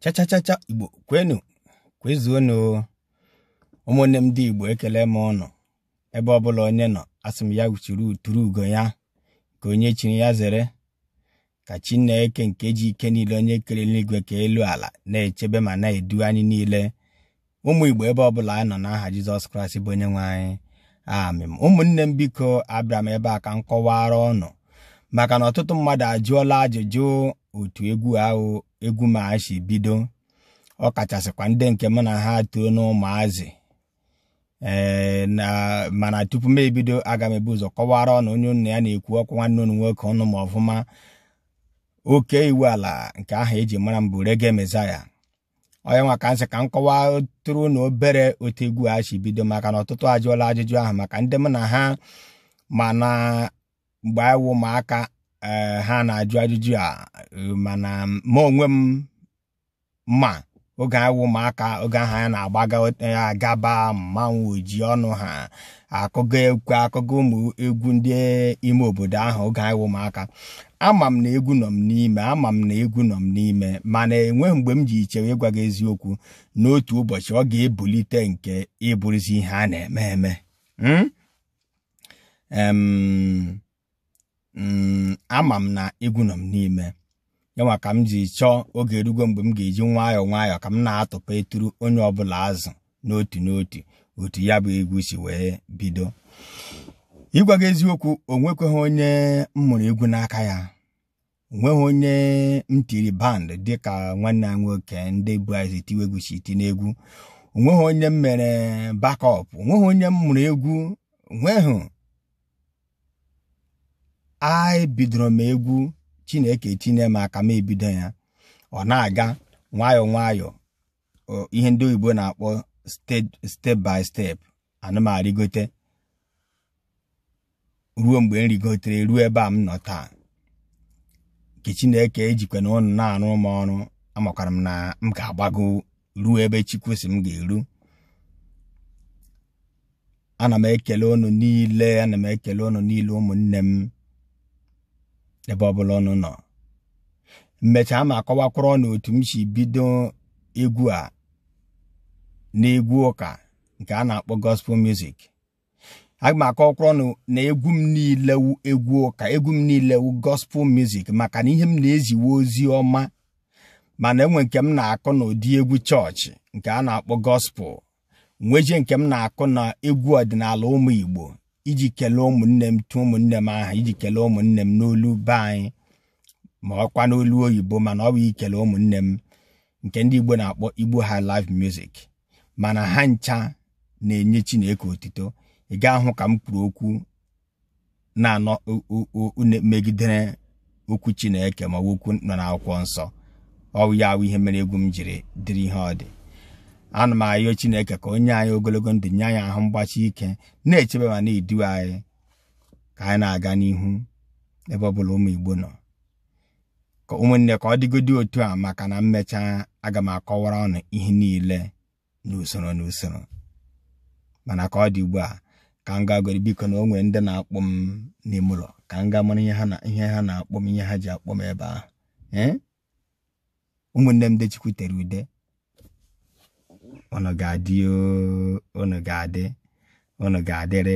chachachacha igbo kwenu kwezuonu ụmụnne m ndị igbo ekele m unu ebe ọbụla onye nọ asị m ya wuchiri uturu ugo ya nke onye chiri ya zere ka chineke nke ji ike niile onye kere eluigwe kee elu ala na-echebe ma na-edu anyị niile ụmụ Igbo ebe ọbụla anyị nọ n'aha Jizọs Kraịst bụ onye nwe anyị amen ụmụnne m biko abịara m ebe a ka m kọwara ụnụ maka na ọtụtụ mmadụ ajụọla ajụjụ otu egwu ahụ egwu m a si bido ọ kachasịkwa ndị nke m na ha too n'ụmụazị ee eh, mana tupu m ebido aga m ebu ụzọ kọwara ụnụ onye ụnụ ya na-ekwu okwu nwanne ụnụ nwoke ụnụ ma ọfụma Okey Iwuala nke aha eji mara m bụ Reggae Messiah ọ ya nwa ka m sị ka m kọwaatụrụ ụnụ obere otu egwu a si bido maka na ọtụtụ ajụọla ajụjụ ahụ maka ndị m na ha ma na mgbe anyị wụ ụmụaka eh, ha na-ajụ ajụjụ a eh, mana ma onwe m ma oge anyị wụ ụmụaka oge ahụ anyị na-agbaga eh, agaba mmanwụ ji ọnụ ha akụga egwu akụga ụmụ egwu ndị ime obodo ahụ oge anyị wụ ụmụaka ama m na egwu nọ m n'ime ama m na egwu nọ m n'ime mana enweghị mgbe m ji ichewe ịgwa gị eziokwu na otu ụbọchị ọ ga-ebulite nke ịbụrụzi ihe a na-eme eme hmm? mm, ama m na egwu nọ m n'ime ya nwa ka m ji chọọ oge erugo mgbe m ga-eji nwayọọ nwayọọ ka m na-atụpụtụrụ onye ọbụla azụ n'otu n'otu otu ya bụ egwu si wee bido ịgwa gị eziokwu o nwekweghị onye m mụrụ egwu n'aka ya onweghị onye m tiri band dịka nwanne ya nwoke ndị bu ụzọ tiwe egwu si eti n'egwu onweghị onye m mere backup onweghị onye m mụrụ egwu onweghị ebidoro m egwu chineke tinye m aka m ebido ya ọ na-aga nwayọọ nwayọọ ihe ndị oyibo na-akpọ step by step ana m arịgote ruo mgbe m rigotere ruo ebe a m nọ taa nke Chineke ejikwanụ ụnụ na-arụ m ọrụ amakwara m na m ga-agbago ruo ebe Chukwu sị m ga-eru ana m ekele unu niile ana m ekele unu niile ụmụnne m ebe ọbụla unu nọ m mechaa m akọwakwara unu otu m si bido egwu a n'egwu ụka nke a na-akpọ gospel music aga m akọwakwara unu na egwu m niile wu egwu ụka egwu m niile wu gospel music maka na ihe m na-ezi wu ozi ọma mana enwe nke m na-akụ n'ụdị egwu church nke a na-akpọ gospel nwezi nke m na-akụ na egwu ọdịnala ụmụ Igbo iji kelee ụmụnne m tụ ụmụnne m aha iji kelee ụmụnne m n'olu be anyị ma ọkwa n'olu oyibo mana ọ bụ iji kelee ụmụnne m nke ndị Igbo na-akpọ Igbo High Life Music mana ha ncha na-enye Chineke otito ị ga-ahụ ka m kwuru okwu na-emegidere okwu chineke ma okwu nọ n'akwụkwọ nsọ ọ wụ ya wụ ihe mere egwu m jiri dịrị ihe ọ dị ana m ayọ chineke ka o nye anyị ogologo ndụ nye anyị ahụ mgbachi ike na-echebe ma na-edu anyị ka anyị na-aga n'ihu ebe ọ bụla ụmụ igbo nọ ụmụnne ka ọ dịgodi otu a maka na m mechaa aga m akọwara unu ihe niile n'usoro n'usoro mana ka ọ dị ugbu a ka m gagodi biko na o nwere ndị na-akpọ m n'ime ụlọ ka m gaa mara ihe ha na-akpọ m ihe ha ji akpọ m ebe ahụ eh? ụmụnne m ndị Chukwu tere ude unu ga-adị unu ga-adị unu ga-adịrịrị